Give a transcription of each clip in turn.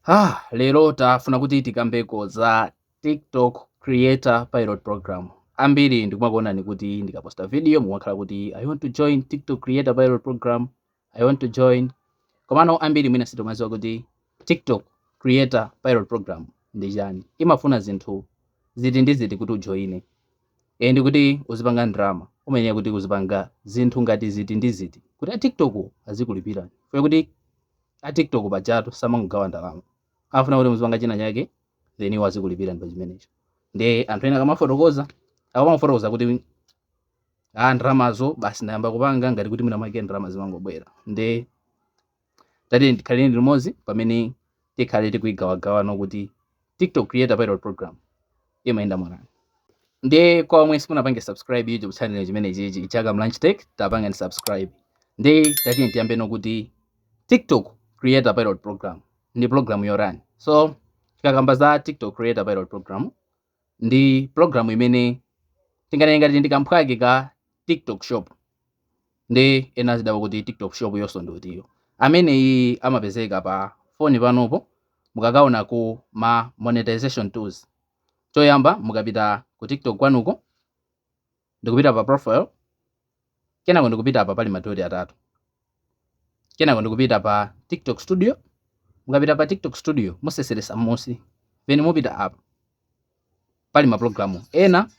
Ah, lero tafuna kuti tikambeko za TikTok creator pilot program. Ambiri ndikumakuonani kuti ndikaposta video mumakhala kuti I want to join TikTok creator pilot program. I want to join. Komano ambiri mwina sitikumaziwa kuti TikTok creator pilot program ndi chani. Imafuna zinthu ziti ndi ziti kuti ujoine. and kuti uzipanga ndalama umayenera kuti uzipanga zinthu ngati ziti ndi ziti kuti a tiktok wo azikulipirani chifukwa kuti a tiktok pajatu samangogawa ndalama afuna kuti muzipanga china chake then iwo azikulipirani pa chimenecho nde anthu ena akamafotokoza akamafotokoza kuti a ndalamazo basi ndayamba kupanga ngati kuti mwina mwake ndalama zimangobwera nde tatiyeni tikhaleni limodzi pamene tikhale tikuyigawagawa kuti tiktok creator pilot program imayenda mwanani nde kwa omwe simunapange subscribe youtube channel chimene chichi chaka mlunch tech tapangani subscribe nde tatiyeni tiyambeno kuti tiktok creator pilot program ndi program yotani so tikakamba za tiktok creator pilot program ndi program imene tinganene ngati ndi kamphwake ka tiktok shop nde ena azidabwa kuti tiktok shop yonso ndi utiyo amene iyi amapezeka pa foni panopo mukakaona ku ma monetization tools choyamba mukapita ku tiktok kwanuko ndikupita pa profile kenako ndikupita apa pali madoti atatu kenako ndikupita pa tiktok studio mukapita pa tiktok studio museseresa m'munsi then mupita apa pali mapulogalamu ena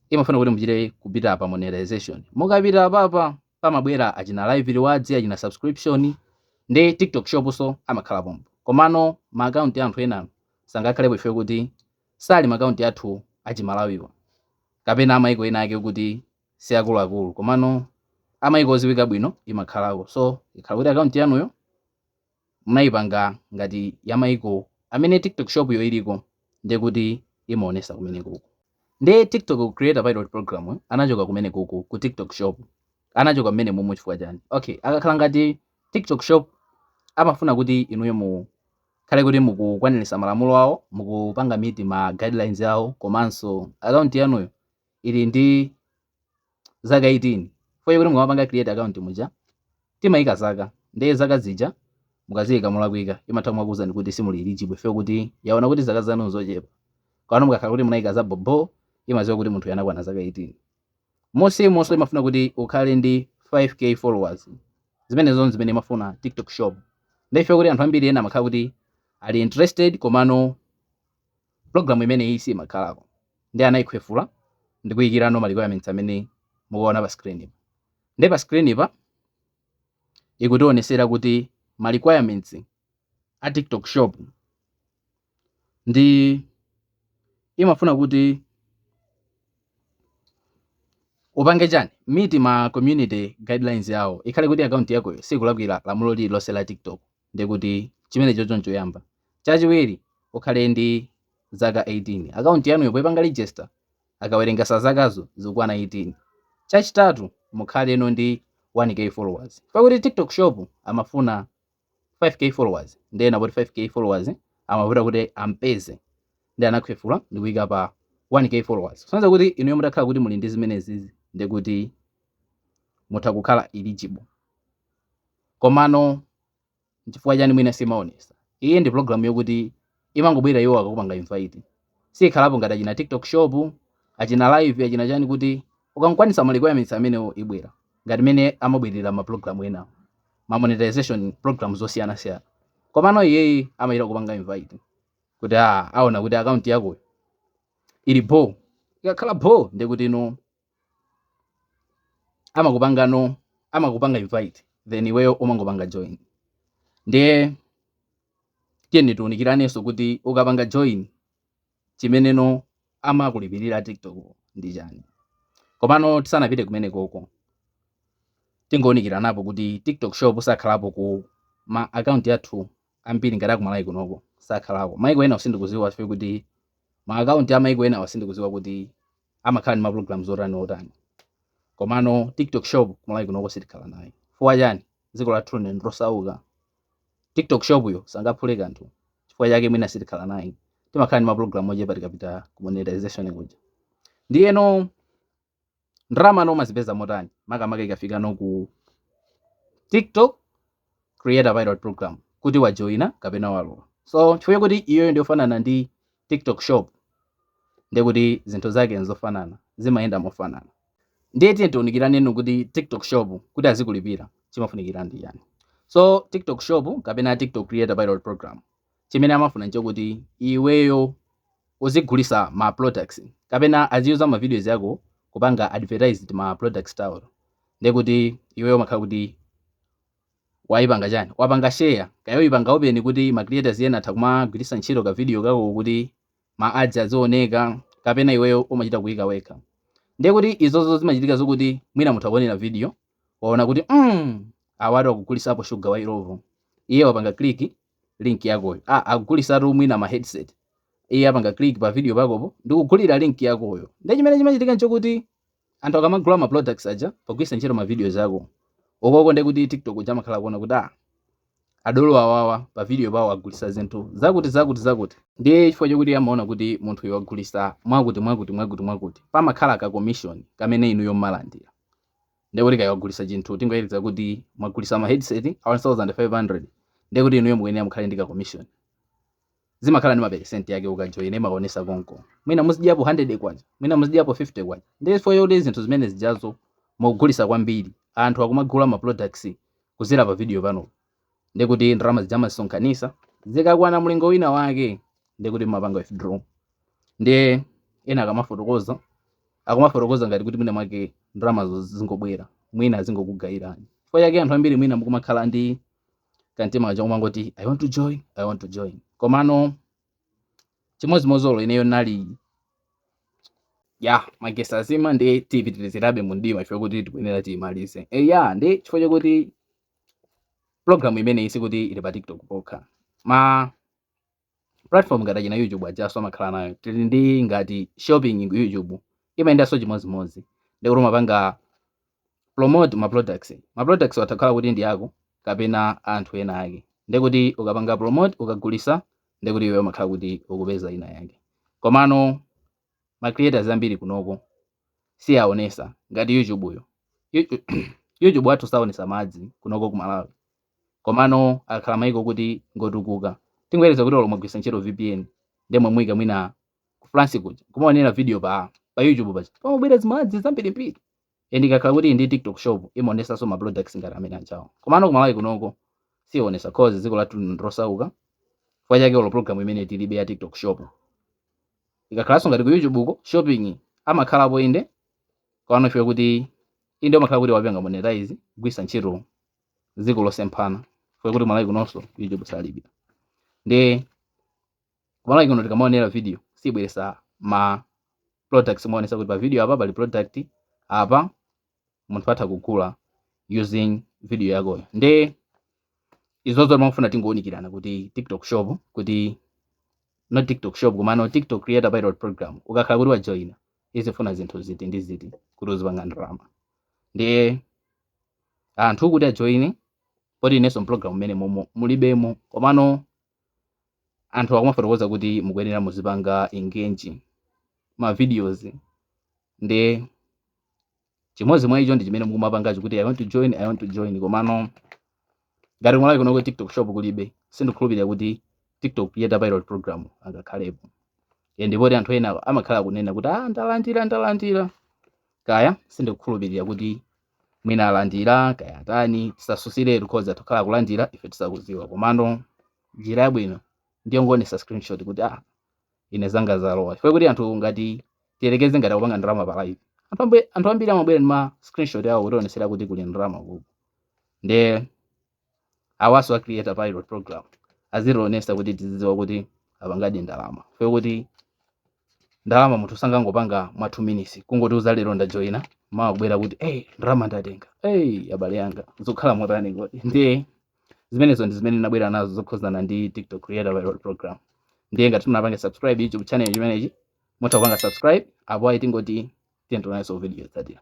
imafuna kuti muchite kupita apa monetization mukapita apapa pamabwera achina live rewards achina subscription ndi tiktok shop so amakhala pompo komano maakaunti ya anthu ena sangakhalepo chifukwa kuti sali maakaunti athu achimalawiwa kapena amaiko ena ake okuti siakuluakulu komano amaiko oziwika bwino imakhalako so ikhala kuti akaunti yanuyo munaipanga ngati yamaiko amene tiktok shop yo iliko ndekuti imaonesa kumenekuku nde tiktok creator pilot program anachoka kumenekuku ku tiktok shop anachoka mmene mumu chifukwa chani okay akakhala ngati tiktok shop amafuna kuti inuyo mu khale kuti mukukwanirisa malamulo awo, mukupanga meet ma guidelines awo komanso account yanuyo ili ndi zaka 18 chifukwa chakuti mukamapanga create account muja timayika zaka ndiye zaka zija mukaziyika molakwika imatha kumakuwuzani kuti simuli eligible chifukwa kuti yawona kuti zaka zanu nzochepa. Komano mukakhala kuti munayika zabhobho imaziwa kuti munthuyo anakwana zaka 18. Momwemonso imafuna kuti ukhale ndi 5K followers. Zimenezo nzimene imafuna TikTok shop. Nde ife kuti anthu ambiri ena amakhala kuti ali interested komano program imeneyi siimakhalako. Nde anaikhwefula ndikuikira no ma requirements amene mukuwaona pa screen pa. Nde pa screen-pa ikutionesera kuti ma requirements a TikTok shop. ndi imafuna kuti upange chani meet ma community guidelines yawo ikhale kuti akaunti yakoyo sikulakwira lamulo lili lonse la tiktok ndikuti chimenecho ndi choyamba chachiwiri ukhale ndi zaka 18 akaunti yanuyo poipanga register akawerengetsa zakazo zikukwana 18 chachitatu mukhale no ndi 1k followers pakuti tiktok shop amafuna 5k followers ndiye anapoti 5k followers amavuta kuti ampeze nde anakhwefula ndi kuyika pa 1k followers kusonyeza kuti inuyo mutakhala kuti muli ndi zimenezizi ndi kuti mutha kukhala eligible komano chifukwa chani mwina simaonesa iyi ndi program yokuti imangobwera iwo akakupanga invite siyikhalapo ngati achina tiktok shop achina live achina chani kuti ukakwanisa ma requirements amenewo ibwera ngati mmene amabwerera ma program enawo ma monetization programs osiyana siyana komano iyeyi amachita kupanga invite kuti ah, aona kuti account yakoyo ili bho ikakhala bho ndekuti no amakupanga no amakupanga invite then iweyo umangopanga join ndiye tiyeni tiunikiranenso kuti ukapanga join chimene no amakulipirira tiktok ndi chani komano tisanapite kumeneko ko tingounikiranapo kuti tiktok shop sakhalapo ku ma account athu ambiri ngati aku Malawi kunoko sakhalako maiko enawo sindikuziwa ife kuti ma account a maiko enawo sindikuziwa kuti amakhala ndi ma programs otani otani komano tiktok shop kumalawi kunoko sitikhala nayo chifukwa chani dziko lathu lino ndilosauka tiktok shop-yo sangaphule kanthu chifukwa chake mwina sitikhala nayo timakhala ndi ma program ochepa tikapita ku monetization kuja ndiyeno ndalama no umazipeza motani makamaka ikafika no ku tiktok creator pilot program kuti wajoina kapena walowa so chifukwa choti iyoyo ndiyofanana ndi tiktok shop ndekuti zinthu zake nzofanana zimayenda mofanana ndiye tiye tiunikirane no kuti tiktok shop kuti azikulipira chimafunikira ndi chani so tiktok shop kapena tiktok creator pilot program chimene amafuna nchokuti iweyo uzigulisa ma products kapena aziuza ma videos yako kupanga advertise ma products awo ndekuti iweyo umakhala kuti waipanga chani wapanga share kaya uipanga open kuti ma creators ena atha kumagwiritsa ntchito ka video kako kuti ma ads azioneka kapena iweyo umachita kuika wekha ndiye kuti izozo zimachitika zokuti mwina munthu akuonera video waona kuti mm, awatu akugulisapo shuga wa Illovo iye wapanga click link yakoyo ah akugulisatu mwina ma headset iye apanga click pa video pakopo ndikugulira link yakoyo nde chimene chimachitika nchokuti anthu akamagula ma products aja pogwisa ntchito ma videos ako okoko nde kuti tiktok uja amakhala kuona kuti ah adolo awawa pa video pawo agulisa zinthu zakuti zakuti zakuti ndiye chifukwa chokuti amaona kuti munthu uyu wagulisa mwakuti mwakuti mwakuti mwakuti pamakhala ka commission kamene inuyo mmalandira ndiye kuti kaya wagulisa chinthu tingoyerekeza kuti mwagulisa ma headset a 1500 ndiye kuti inuyo mukuyenera mukhale ndi ka commission zimakhala ndi maperesenti yake ukajoyina imaonesa konko mwina muzidyapo 100 kwacha mwina muzidyapo 50 kwacha ndiye chifukwa choti zinthu zimene zijazo mukugulisa kwambiri anthu akumagula ma products kudzera pa video panopo nde kuti ndalama zija amazisonkhanisa zikakwana mlingo wina wake nde kuti mumapanga withdraw ndiye ena akamafotokoza akumafotokoza ngati kuti mwina mwake ndalamazo zingobwera mwina azingokugayirani chifukwa chake anthu ambiri mwina mukumakhala ndi kantima kaja kumangoti i want to join i want to join komano chimodzimozolo ineyo naliya magesi azima nde tipitirizirabe mu mdima chifukwa kuti tikuyenera tiyimalize eya ndi chifukwa chakuti program imeneyi sikuti ili pa tiktok pokha ma platform ngati achina youtube ajaso amakhala nayo tili ndi ngati shopping ku youtube imayendanso chimodzimodzi ndikuti umapanga promote ma products ma products atakhala kuti ndi ako kapena anthu ena ake ndikuti ukapanga promote ukagulisa ndikuti iwe umakhala kuti ukupeza kena kake komano ma creators ambiri kunoko saonesa ngati YouTube yo YouTube wathu saonesa ma ads kunoko ku Malawi komano akhala maiko kuti ngotukuka tingoyerekeza kuti olo mwagwisa ntchito VPN nde mwaika mwina ku France kuja kumaonera video pa pa YouTube paja pamabwera zima ads zambirimbiri and ikakhala kuti ndi tiktok shop imaonesanso ma products ngati amene ajawo komano kumalawi kunoko sionesa cause dziko lathu lino ndilosauka chifukwa chake olo program imeneyi tilibe ya tiktok shop ikakhalanso ngati ku youtube uko shopping amakhalapo inde komano ife kuti inde umakhala kuti wapanga monetize gwisa ntchito dziko losiyana chifukwa kuti malawi kunonso youtube salibe ndi Kumalawi kuno tikamaonera video siibweresa ma products kuonesa kuti pa video apa pali product apa munthu atha kugula using video yakoyo. Nde izozo timafuna tingoonikirana kuti TikTok shop kuti not TikTok shop komano TikTok creator pilot program ukakhala kuti wajoina imafuna zinthu ziti ndi ziti kuti uzipanga ndalama. Ndiye anthu kuti ajoine poti inenso program imeneyo momo mulibemo komano anthu akumafotokoza kuti mukuyenera muzipanga engage ma videos nde chimodzi mwa icho ndi chimene mukumapangacho kuti i want to join i want to join komano ngati kumalawi kuno ku tiktok shop kulibe sindikhulupirira kuti tiktok creator pilot program ingakhalepo e ndipoti anthu ena amakhala akunena kuti ah ndalandira ndalandira kaya sindikukhulupirira kuti mwina alandira kaya atani tisasusiretu cause atha kukhala akulandira ife tisakuziwa komano njira yabwino ndiyongoonesa screenshot kuti ah ine zanga zalowa chifukwa kuti anthu ngati tiyerekeze ngati akupanga ndalama pa live anthu ambi- anthu ambiri amabwera ndi ma screenshot awo kutionesera kuti kuli ndalama kuko nde awaso a creator pilot program azitionesa kuti tizidziwa kuti apangadi ndalama chifukwa choti ndalama munthu sangangopanga mwa 2 minutes kungoti za lero ndajoyina mawa kubwera kuti hey, ndalama ndatenga hey, abale yanga zokhala motani kodi ndiye zimenezo ndi zimene ndinabwera nazo zokhuzana ndi tiktok creator pilot program ndiye ngati simunapange subscribe youtube channel chimenechi mutha kupanga subscribe apo ayi tingoti tiye tionanso video yotsatira